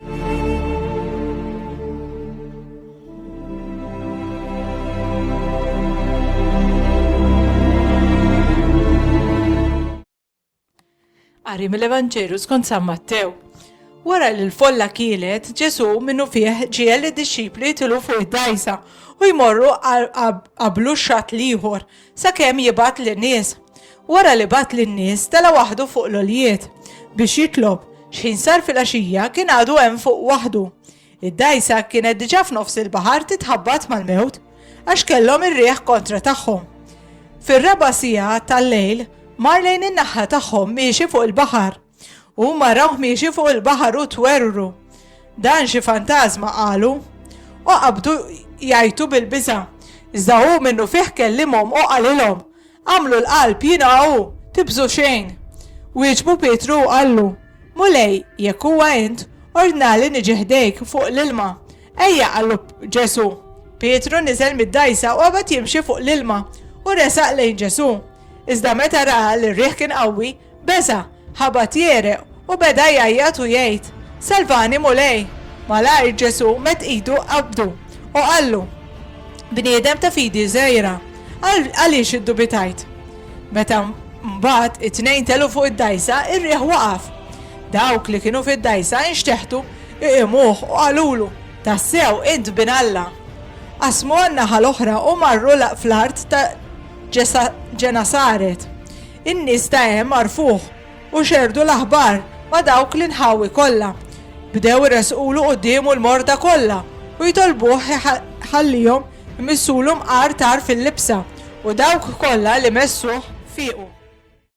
Qari mill-Evanġelu skont San Mattew. Wara li l-folla kielet, Ġesu minnu fih ġiel id-dixxipli tilu fuq id-dajsa u jmorru qablu xat liħor Sakemm jibgħat lin-nies. Wara li bagħat lin-nies, tela' waħdu fuq l-għoljiet biex jitlob. X'ħin sar filgħaxija, kien għadu hemm fuq waħdu. Id-dgħajsa kienet diġà f'nofs il-baħar titħabbat mal-mewt, għax kellhom ir-riħ kontra tagħhom. Fir-raba' siegħa tal-lejl, mar lejn in-naħa tagħhom miexi fuq il-baħar. Huma rawh miexi fuq il-baħar u twerwru. Dan xi fantażma qalu. U qabdu jgħajtu bil-biża'. Iżda hu minnu fih kellimhom u qalilhom, Agħmlu l-qalb, jiena hu, tibżgħu xejn. Wieġbu Pietru u qallu, Mulej, jekk huwa int, ordnali niġi ħdejk fuq l-ilma. Ejja, qallu Ġesù. Pietru niżel mid-dgħajsa u qabad jimxi fuq l-ilma u resaq lejn Ġesù. Iżda meta ra li r-riħ kien qawwi, Beża', ħabat jegħreq u beda jgħajjat u jgħid, Salvani, Mulej! Malajr Ġesù medd idu u qabdu, u qallu, Bniedem ta' fidi żgħira, għaliex iddubitajt? Meta mbagħad it-tnejn telgħu fuq id-dgħajsa, ir-riħ waqaf. Dawk li kienu fid-dgħajsa inxteħtu iqimuh u qalulu, Tassew, int Bin Alla! Qasmu għan-naħa l-oħra u marru fl-art ta' Ġenasaret. In-nies ta' hemm għarfuh u xerrdu l-aħbar ma' dawk l-inħawi kollha. Bdew iressqulu quddiemu l-morda kollha u jtolbuh iħallihom imissulu mqar tar fil-libsa, u dawk kollha li messuh fiequ.